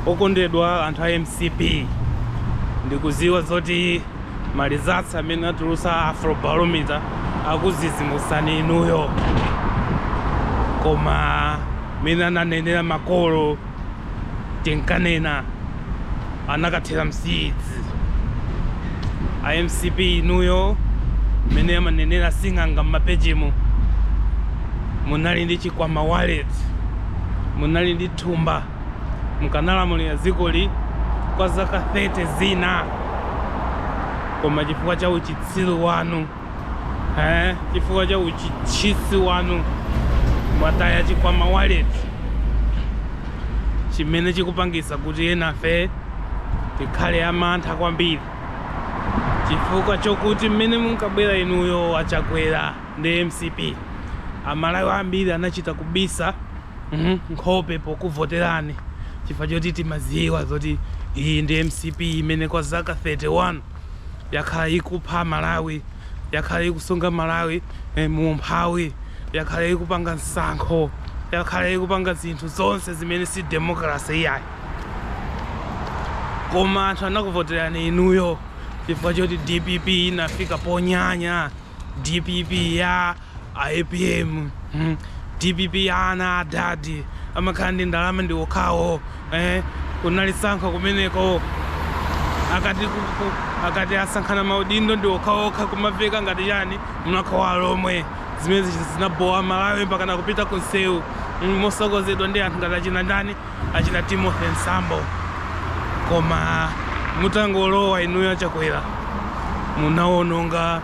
Okondedwa anthu a mcp ndikuziwa zoti ma results amene atulusa Afrobarometer akuzizimusani inuyo koma mene ananenera makolo tinkanena anakathera msiizi a mcp inuyo mene amanenera sing'anga mmapejimu munali ndi chikwama wallet munali ndi thumba mukanalamulira dzikoli kwa zaka 30 zina koma chifukwa cha uchitsiru wanu eh, chifukwa cha uchitsiru wanu mwataya chikwama wallet chimene chikupangisa kuti nafe tikhale amantha kwambiri chifukwa chokuti mmene munkabwera inuyo achakwera ndi mcp amalawi ambiri anachita kubisa Mhm, nkhope pokuvoterani chifukwa choti timaziwa zoti iyi ndi mcp imene kwa zaka 31 yakhala ikupha amalawi yakhala ikusunga amalawi eh, mu umphawi yakhala ikupanga tsankho yakhala ikupanga zinthu zonse zimene si demokrasi iyayi koma anthu anakuvoterani inuyo chifukwa choti dpp inafika ponyanya dpp ya A apm hmm dpp ana a dad amakhala ndi ndalama ndi okhawo eh kunali tsankho kumeneko akati ku- ku- akati asankhane maudindo ndi okhaokha kumaveka ngati chani mlakho wa alomwe zimene zija zinabowa amalawi mpaka nakupita ku nsewu mm, motsogozedwa ndi anthu ngati achina ndani achina timothy mtambo koma mutangolowa inuyo achakwera munawononga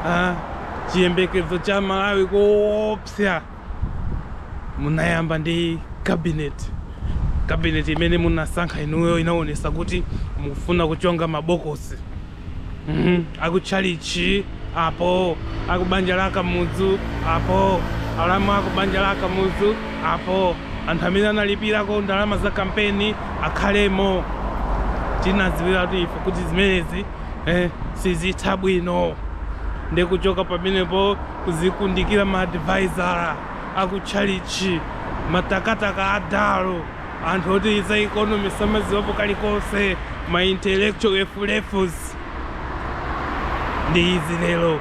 ah, Chiyembekezo cha Amalawi koopsa. Munayamba ndi cabinet. Cabinet imene munasankha inuyo inaonesa kuti mukufuna kuchonga ma box. Mhm. Akutchalitchi apo, akubanja la Kamudzu apo, alamu akubanja la Kamudzu apo, anthu amene analipirako ndalama za kampeni akhalemo. Tinadziwiratu ife kuti zimenezi. eh, sizitha bwino ndikuchoka pamenepo kuzikundikira ma advisor akutchalichi ma takataka a Dalo anthu oti za economy samaziwapo kalikonse ma intellectual useless ndi izi lero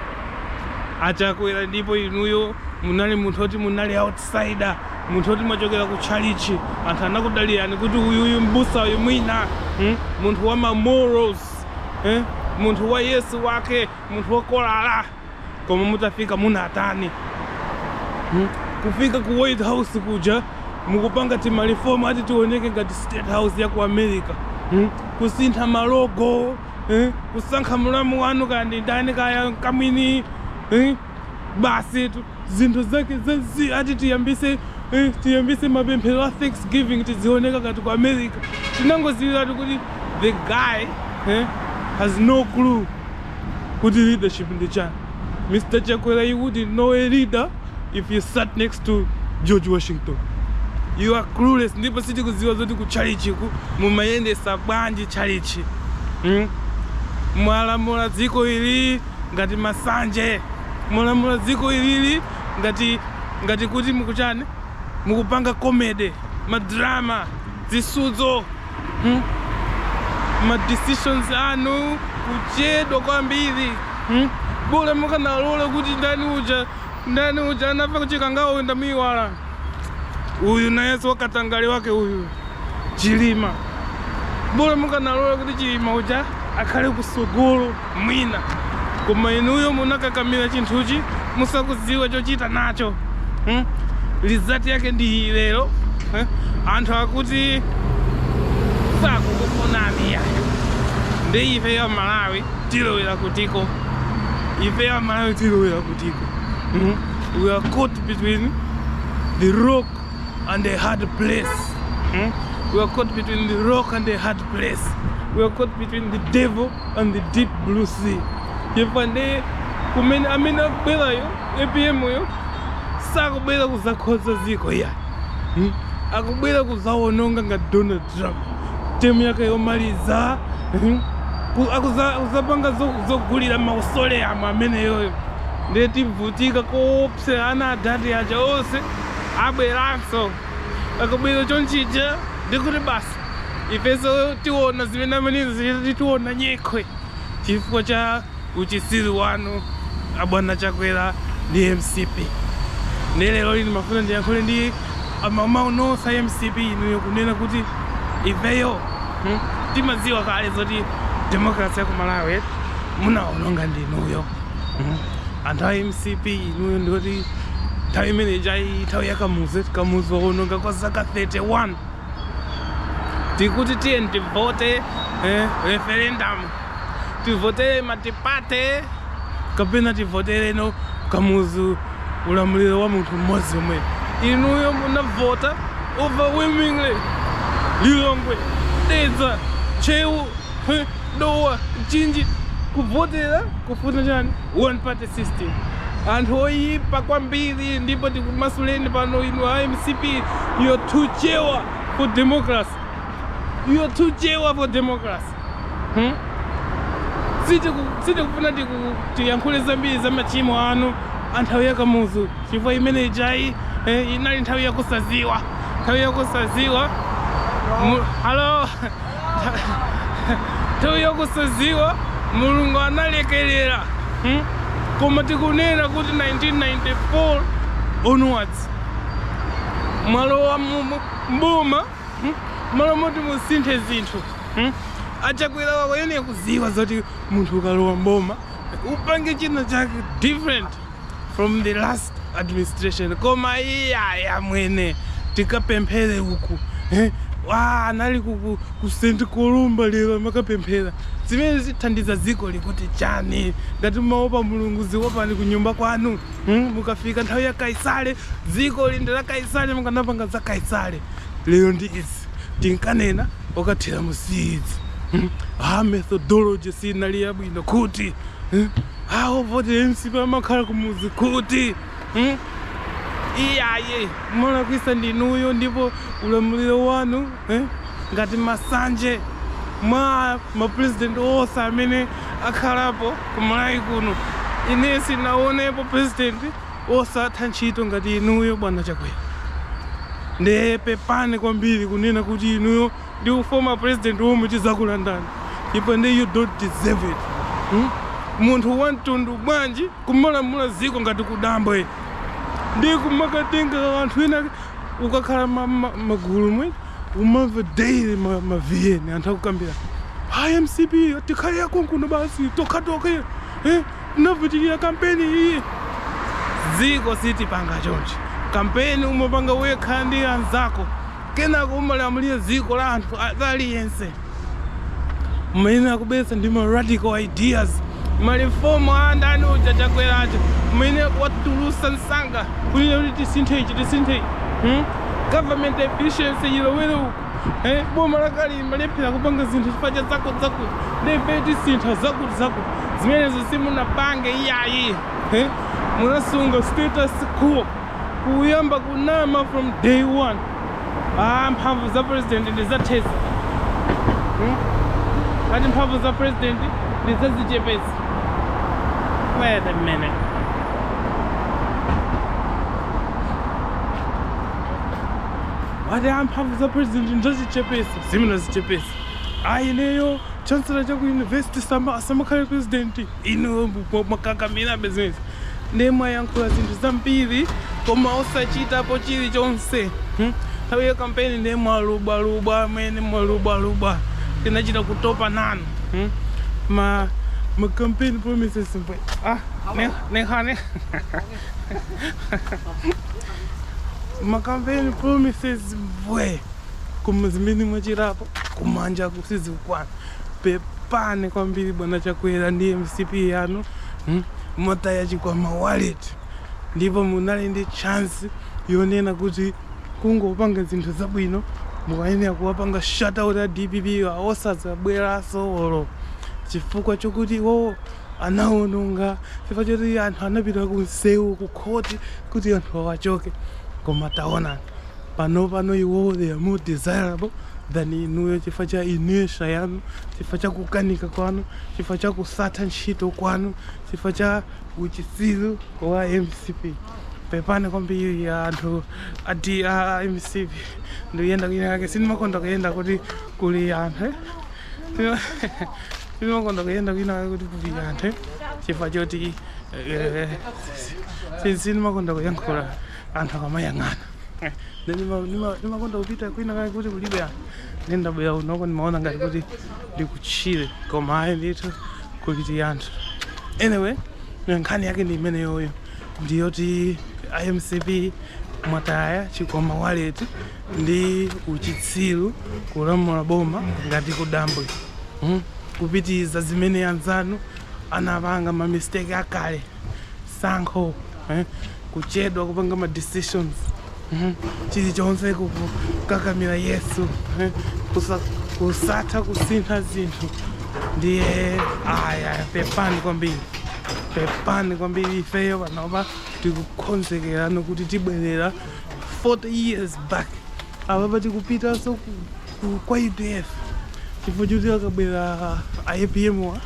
achakwera ndipo inuyo munali munthu oti munali outsider munthu oti mwachokera ku chalichi anthu anakudalirani kuti uyuyu mbusa uyu mwina hmm? munthu wa ma morals eh munthu wa yesu wake munthu wa kolala koma mutafika munatani hmm? kufika ku white house kuja mukupanga timalifomu ati tioneke ngati state house ya ku america hmm? kusintha malogo eh? kusankha mulamu wanu kaya ndi ndani kaya mkamwini eh? basitu zinthu zake zazii ati tiyambise eh, tiyambise mapemphero a thanksgiving tidzioneka ngati ku america tinangoziwiratu kuti the guy eh, has no clue kuti leadership ndi chani mr chakwera you wouldn't know a leader if you sat next to george washington you are clueless ndipo sitikuziwa zoti ku tchalitchiku mumayendesa bwanji tchalitchi mm? mwalamula dziko ili ngati masanje mulamula dziko ilili ngati ngati kuti mukuchani mukupanga comedy ma drama zisudzo hmm? ma decisions anu kuchedwa kwambiri hmm? bola mukanalola kuti ndani uja ndani uja anafa kuchikangawa uyu ndamuiwala uyu nayeso wakatangale wake uyu chilima bola mukanalola kuti chilima uja akhale kusogolo mwina. Koma inuyo munakakamila chinthuchi musakudziwa chochita nacho hmm? result yake ndi iyi lero eh? anthu akuti sakukufunani yayi nde ifeyo amalawi tilowera kutiko ifeyo amalawi tilowera kutiko hmm? we are caught between the rock and the hard place hmm? we are caught between the rock and the hard place we are caught between the devil and the deep blue sea chifukwa nde kumene amene akubwerayo apm yo sakubwera kuzakhonza ziko ayi hmm? akubwera kuzawononga nga donald trump term yake yomaliza hmm? akuzapanga zogulira mausoleum ameneyoyo nde tivutika koopsera ana adadi aja onse abweranso akabwera choncho ija ndikuti basi ifenso tiona zimene amene ziti tiona nyekhwe chifukwa cha uchisiri wanu abwana chakwera ndi mcp ndi lero lino ndimafuna ndiyankhule ndi mamembala nonse a mcp inuyo kunena kuti ifeyo hmm, timadziwa kale zoti demokrasi ya ku malawi munaononga ndinuyo hmm. Anthu a mcp inuyo ndi oti nthawi imene ija nthawi ya kamuzu eti kamuzu waononga kwa zaka 31 tikuti tiyeni tivote eh, referendum tivotere multiparty kapena tivoterenso kamuzu ulamuliro wa munthu mmodzi omwe inuyo munavota overwhelmingly lilongwe dedza ntcheu He, dowa, mchinji, kuvotera kufuna chani one party system. Anthu oyipa kwambiri ndipo tikumasuleni pano inu a MCP you're too chewa for democracy. You're too chewa for democracy. Hmm? Sitiku- sitikufuna tiku- tiyankhule zambiri za machimo anu a nthawi ya kamuzu chifukwa imene ijayi eh, inali nthawi yakusaziwa nthawi yakusaziwa Mu- halo nthawi yakusaziwa mulungu analekelera hmm? koma tikunena kuti 1994 onwards mwalowa mboma hmm? malo moti musinthe zinthu hmm? a Chakwera munkayenera kuziwa zoti munthu ukalowa mboma upange china chake different from the last administration koma iyayi amwene tikapemphere uku eh, wa anali ku, ku, ku st columba lero amakapemphera zimene zithandiza dziko likuti chani ngati mumaopa mulungu dziopani ku nyumba kwanu hmm? ikafika nthawi ya kaisale dziko lindi la kaisale mukanapanga za kaisale lero ndi izi tinkanena akathera m'siizi hmm? ha methodology sinali yabwino kuti hmm? a voti ya mcp amakhala kumudzi kuti hmm? iyayi mwalakwisa ndi inuyo ndipo ulamuliro wanu eh? ngati masanje, mwa mapurezidenti onse amene akhalapo kumalawi kuno ine sindinaonepo purezidenti osatha ntchito ngati inuyo bwana chakwera ndiye pepani kwambiri kunena kuti inuyo ndi u former president omwe tizakulandani chifukwa nde you don't deserve it hmm? munthu wamtundu bwanji kumalamula ziko ngati kudambwe ndi kumakatenga anthu ena ukakhala ma- ma- magulu umu umamva daily ma- ma vn anthu akukambira hi mcp tikhale tokhatokha kuno basi tokhatokha eh, tinavutikira kampeni iyi dziko sitipanga choncho kampeni umapanga wekha ndi anzako Kenako umalamulira dziko la anthu wina aliyense. Mumayenera kubweretsa ndi ma radical ideas, ma reform a ndani uja Chilima aja. Mumayenera kuwatulusa nsanga kunena kuti tisinthe ichi tisinthe ichi. Hmm? Government efficiency ilowere uku. Eh, boma likulephera kupanga zinthu chifukwa cha zakuti zakuti. Nde tisintha zakuti zakuti. Zimenezo simunapange iyayi. Eh? Munasunga status quo. kuyamba kunama from day one ah, mphamvu za president ndizathetsa hmm? ati mphamvu za president ndizazichepetsa wait a minute ati ah, mphamvu za president ndizazichepetsa zimenezi chepetsa a ineyo chancellor cha ku university sama asamakhale president inu mwakakamira business ndiye mwayankhula zinthu zambiri koma osachitapo chilichonse hmm? nthawi ya kampeni ndiye mwalubwalubwa amene mwalubwalubwa tinachita kutopa nanu hmm? ma ma campaign promises mwe ah ne ne hane ma campaign promises mwe koma zimene mwachitapo kumanja kusizikukwana Pepani kwambiri bwana Chakwera ndi mcp yanu mm, mwataya chikwama wallet ndipo munali ndi chance yonena kuti kungopanga zinthu zabwino mukayenera kuwapanga shut out a dpp wa osadzabweranso olo chifukwa chokuti iwowo anawononga chifukwa choti anthu anapita ku msewu ku khoti kuti anthu awa achoke koma taona panopano iwowo they are more desirable than inuyo chifukwa cha inertia yanu chifukwa cha kukanika kwanu chifukwa cha kusatha ntchito kwanu chifukwa cha uchitsiru wa mcp pepani kwambiri ya anthu aja a mcp ndikuyenda kwina kake sindimakonda kuyenda kuti kuli anthu eh? sindimakonda kuyenda kwina kake kuti kuli anthu eh? chifukwa choti eh, eh, sindimakonda kuyankhula anthu akamayang'ana Then nima- nima- nimakonda kupita kwina kake kuti kulibe anthu nde ndabwera kunoko ndimaona ngati kuti ndikuchire koma ayi ndithu kuli anthu anyway nkhani yake ndi imeneyoyo ndiyoti a mcp mwataya chikwama waleti ndi uchitsiru kulamula boma ngati kudambwe hmm? kupitiriza zimene anzanu anapanga mamistake akale tsankho eh? kuchedwa kupanga ma decisions eh? chilichonse kukakamira yes eh? Kusa, kusatha kusintha zinthu ndiye aya pepani kwambiri pepani kwambiri ifeyo panopa tikukonzekerano kuti tibwerere 40 years back apapa tikupitanso ku ku kwa udf chifukwa choti akabwera a apm wa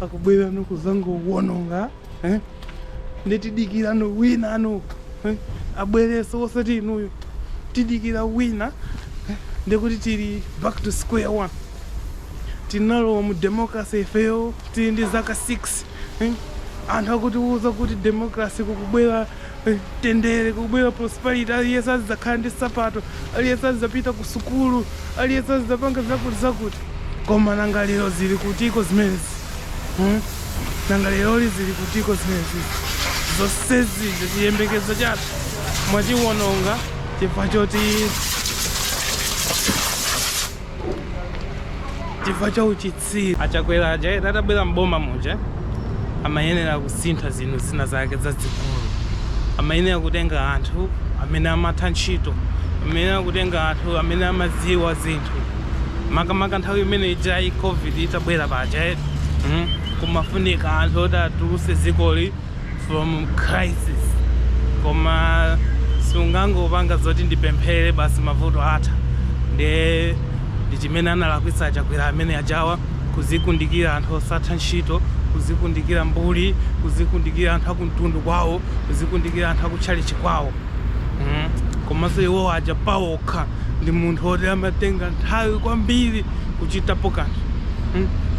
akubwerano kuzangowononga eh? nde tidikirano wina wanu eh? abwereso osati inuyo tidikira wina eh? ndikuti tili back to square one tinalowa mu democracy ifeyo tili ndi zaka 6 eh? anthu akutiuza kuti democracy ikubwera Mtendere, kubwera prosperity, aliyense azidzakhala ndi sapato, aliyense azidzapita ku sukulu, aliyense azidzapanga zakuti zakuti. Koma nanga lero zili kutiko zimenezi? Hmm? Nanga leroli zili kutiko zimenezi? Zonsezi zi chiyembekezo chathu mwachiwononga chifukwa choti chifukwa cha uchitsi. si achakwera aja eti atabwera m'boma muja amayenera kusintha zinthu zina zake zazikulu amayenera kutenga anthu amene amatha ntchito amayenera kutenga anthu amene amaziwa zinthu makamaka nthawi imene ijayi covid itabwera paja eti kumafunika anthu oti atulutse dzikoli from crisis koma sungangopanga zoti ndipemphere basi mavuto atha nde ndi chimene analakwitsa achakwera amene ajawa kuzikundikira anthu osatha ntchito kuzikundikira mbuli kuzikundikira anthu akumtundu kwawo kuzikundikira anthu akutchalitchi kwawo komanso iwo aja pawokha ndi munthu oti amatenga nthawi kwambiri kuchitapo kanthu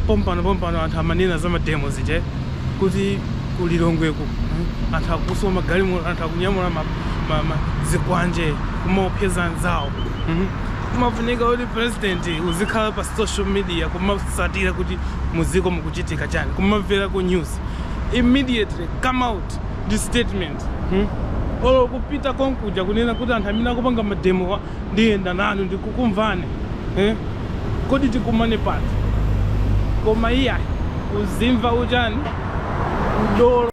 pompano pompano anthu amanena za mademo aje kuti ku Lilongweku anthu akuswa magalimoto, anthu akunyamula ma, ma, ma, zikwanje kumaopseza anzawo mm? kumafunika kuti president uzikhala pa social media kumasatira kuti mudziko mukuchitika chani kumamvera ku news immediately come out ndi statement mm? olo kupita konkuja kunena kuti anthu amene akupanga mademo Ndiyenda nanu ndikukumvani eh? Kodi tikumane pati? Koma iyayi uzimva chani? Udolo.